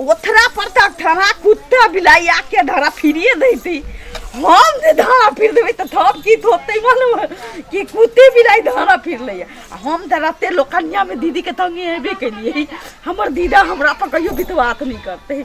ओथरा पर तऽ ठहरा कुत्ता बिलाई आके धरा फिरिए देती हम जे धरा फिर देबै तऽ तब की होतै मालूम है? कि कुत्ते बिलाई धरा फिर लैया आ हम तऽ रते लोकनिया में दीदी के तंगे हेबे केलिए हमर दीदा हमरा पर कहियो विश्वास नहीं करते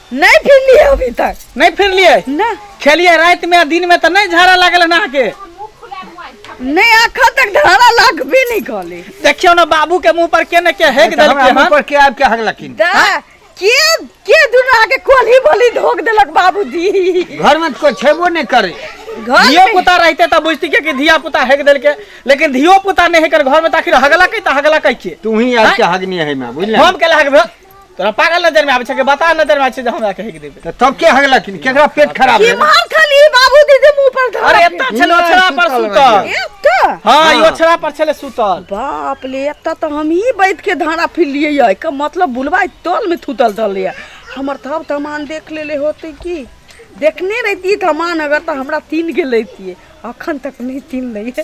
नहीं फिरली है अभी तक नहीं फिरलिए ना खेलिए रात में दिन में तो नहीं झाड़ा लागल ना के नहीं आखा तक धारा लाख भी नहीं कहले देखियो ना बाबू के मुंह पर केने के हेक तो हमरा देलके मुंह हन पर के आब के हक लकिन दा के के दुना के कोली बोली धोक देलक बाबूजी घर में तो कोई छेबो नहीं करे घर धियो में- पुता रहते तो बुझती के कि धिया पुता हेक देलके लेकिन धियो पुता नहीं हेकर घर में ताखिर हगला कई तो हगला कई के तू ही आब के हगनी है मैं बुझल हम के लाग तोरा पागल नजर में आबै छै कि बता नजर में आबै छै जे हमरा कहे के देबे तऽ तब के हगलक केकरा पेट खराब की भेल मार खाली बाबू दीदी मुंह पर धर अरे एत्ता छले नहि, ओछरा पर सुतल सुतल ए त हां ई हाँ। ओछरा पर छले सुतल बाप ले एत्ता तो हम ही बैठ के धारा फिर लिए है का मतलब बुलवाई तोल में थूतल धल है हमर तब तमान देख लेले होते की देखने रहती तमान अगर तो हमरा तीन के लेती अखन तक नहीं तीन नहीं है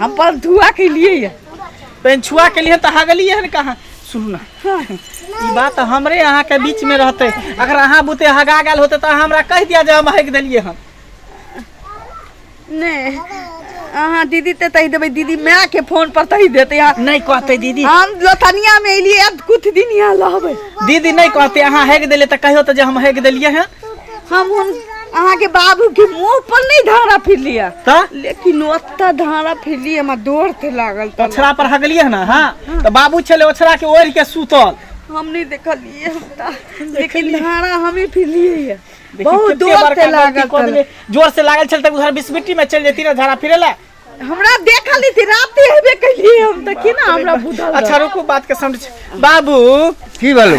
हम पर धुआ के लिए ये पेन छुआ के लिए तो हगली है कहाँ सुनू ना ई बात हमरे अहाँ के बीच में रहते अगर अहाँ बुते हगा गेल होते तो हमरा कह दिया जे हम हग दिलिए हम नहीं अहाँ दीदी ते तही देबै दीदी माय के फोन पर तही देते यहाँ नहीं कहते दीदी हम लोथनिया में एलिए अब कुछ दिन यहाँ रहबै दीदी नहीं कहते अहाँ हग दिले तो कहियो तो जे हम हग दिलिए हैं हम हुन अहाँके बाबू के मुंह पर नहीं धारा फिर लिया त लेकिन ओत्ता धारा फिर लिया हमरा डोर थे लागल त ओछरा पर हगलिए है ना हाँ तो बाबू छले ओछरा के ओढ़ के सूतल हम नहीं देखलिए हमरा लेकिन धारा हमें फिर लिए ये। देखी बहुत कितने डोर बड़का थे गलती लागल कऽ देले। तला। जोर से लागल छल तक उधर बिस्मिट्टी में चल जेती ना धारा फिरे ला हमरा देखल नहीं थी रात ही हबे कलिए हम तो की ना हमरा बुझल अच्छा रुकू बात के समझ बाबू की बोलू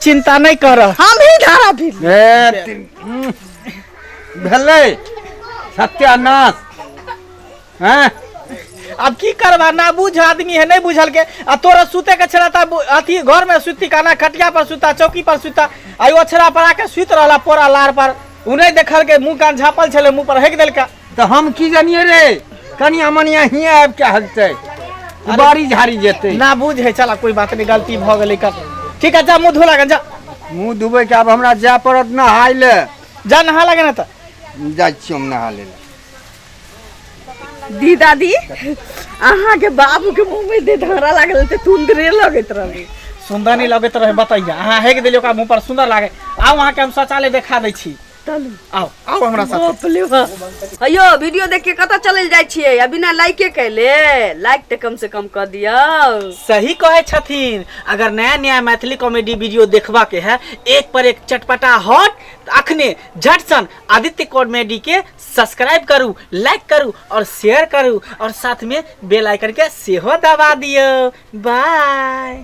चिंता नहीं कर हम ही धारा भी ए, ती- भेलै सत्यानाश हैं अब की करबा ना बुझ आदमी है नहीं बुझल के आ तोरा सुते के छला ता बु- अथी घर में सुती काना खटिया पर सुता चौकी पर सुता आयो छला पर आके सुत रहला पोरा लार पर उ नहीं देखल के मुंह कान झापल छले मुंह पर हेक देलका तऽ हम की जानिए रे कनिया मनिया हिए आबि के हगतै बारी झाड़ी जेतै ना बुझ है चला कोई बात नहीं गलती भ गेलै कर ठीक है जा मुंह धो लगा जा मुंह धुबै के आब हमरा जाय पड़त नहाय ले जा नहा लगा ना त जाइ छियै हम नहा ले दी दादी अहाँ के बाबू के मुंह में दे धारा लागल ते तुंदरे लगत रहली सुंदर नहीं लगैत रहे बताइए अहाँ हेग देलियै ओकरा मुंह पर सुंदर लागे आउ अहाँ के हम शौचालय देखा दै छी चलू आओ आओ हमरा साथ बाप रे बाप। अयो वीडियो देख के कतऽ चलल जाइ छियै आ बिना लाइके कैले लाइक तऽ कम से कम कऽ दियौ सही कहे छथिन अगर नया नया मैथिली कॉमेडी वीडियो देखबा के है एक पर एक चटपटा हॉट त अखने झट सन आदित्य कॉमेडी के सब्सक्राइब करू लाइक करू और शेयर करू और साथ में बेल आइकन के सेहो दबा दियो बाय